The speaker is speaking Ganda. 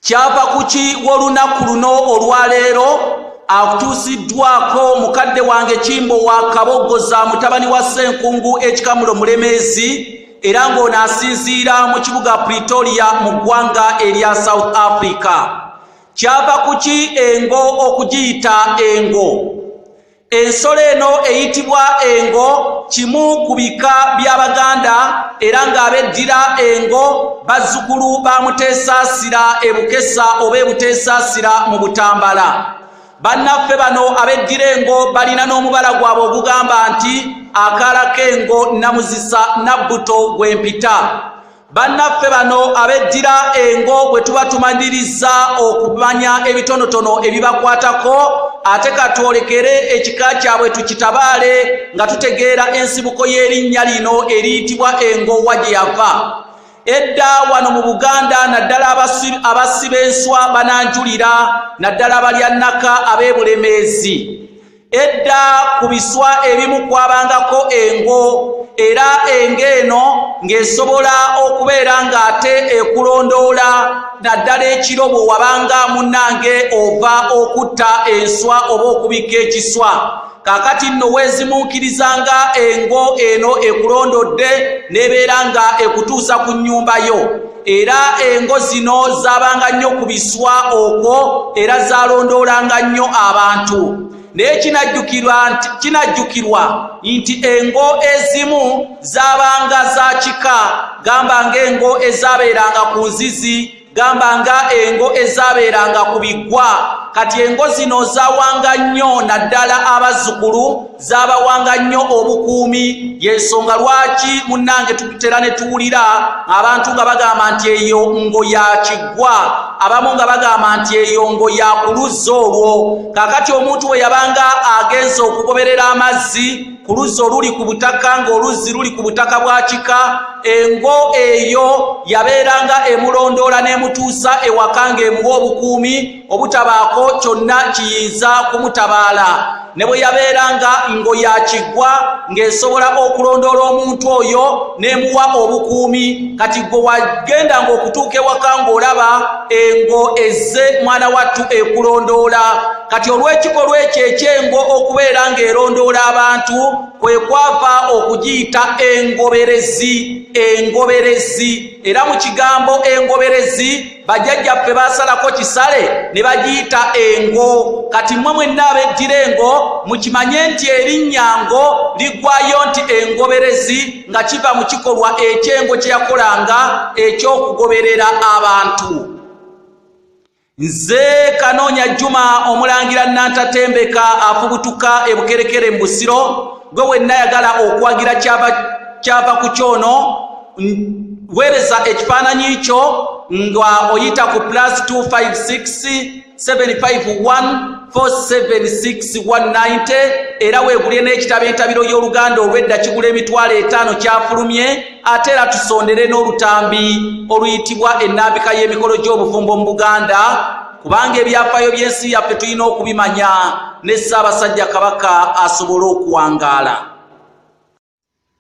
kyava kuki w'olunaku luno olwaleero akutuusiddwako mukadde wange kimbo wa kaboggoza mutabani wa ssenkungu ekikamulo mulemeezi era ng'ono asinziira mu kibuga pretoria mu ggwanga erya south africa kyava kuki engo okugiyita engo Ensolo eno eyitibwa engo kimu ku bika by'Abaganda era ng'abeddira engo bazzukulu ba Muteesaasira e Bukesa oba e Buteesaasira mu Butambala. Bannaffe bano abeddira engo balina n'omubala gwabwe ogugamba nti akaala k'engo nnamuzisa nabbuto gwe mpita. bannaffe bano abeddira engo bwe tuba tumanyiriza okumanya ebitonotono ebibakwatako ate katwolekere ekika kyabwe tukitabaale nga tutegeera ensibuko y'erinnya lino eriyitibwa engo wa gye yava edda wano mu buganda naddala abasiba enswa bananjulira naddala balya nnaka ab'ebulemeezi edda ku biswa ebimu kwabangako engo era engo eno ng'esobola okubeera ng'ate ekulondoola naddala ekiro bwe wabanga munnange ova okutta enswa oba okubikka ekiswa kakati nno weezimunkirizanga engo eno ekulondodde n'ebeera nga ekutuusa ku nnyumba yo era engo zino zaabanga nnyo ku biswa okwo era zaalondoolanga nnyo abantu naye kinajjukirwa nti engo ezimu zaabanga za kika gamba ng'engo ezaabeeranga ku nzizi gamba nga engo ezaabeeranga ku biggwa kati engo zino zaawanga nnyo naddala abazzukulu zabawanga nnyo obukuumi yensonga lwaki munnange tutera ne tuwulira abantu nga bagamba nti eyo ngo yakiggwa abamu nga bagamba nti eyo ngo yakuluzza olwo kakati omuntu bwe yabanga agenze okugoberera amazzi ku luzzi oluli ku butaka ng'oluzzi luli ku butaka bwa kika engo eyo yabeeranga emulondoola n'emutuusa ewaka ng'emuwa obukuumi obutabaako kyonna kiyinza kumutabaala ne bwe yabeera nga ngo yakiggwa ng'esobola okulondoola omuntu oyo n'emuwa obukuumi kati gwe wagenda ng'okutuuka ewaka ng'olaba engo ezze mwana wattu ekulondoola kati olw'ekikolwa ekyo ekyengo okubeera ng'erondoola abantu kwe kwava okugiyita engoberezi engoberezi era mu kigambo engoberezi bajajja ffe basalako kisale ne bagiyita engo kati mmwe mwenna abeddira engo mukimanye nti erinnya ngo ligwayo nti engoberezi nga kiva mu kikolwa ekyengo kye yakolanga eky'okugoberera abantu nze kanoonya juma omulangira nantatembeka afubutuka ebukerekere mu busiro gwe wenna yagala okuwagira kyava ku kyono wereza ekifaananyi kyo nga oyita ku plus 256751476190 era weegulye n'ekitabo entabiro y'oluganda olwedda kigula emitwalo etaano kyafulumye ate era tusondere n'olutambi oluyitibwa ennambika y'emikolo gy'obufumbo mu buganda kubanga ebyafaayo by'ensi yaffe tulina okubimanya ne ssaabasajja kabaka asobole okuwangaala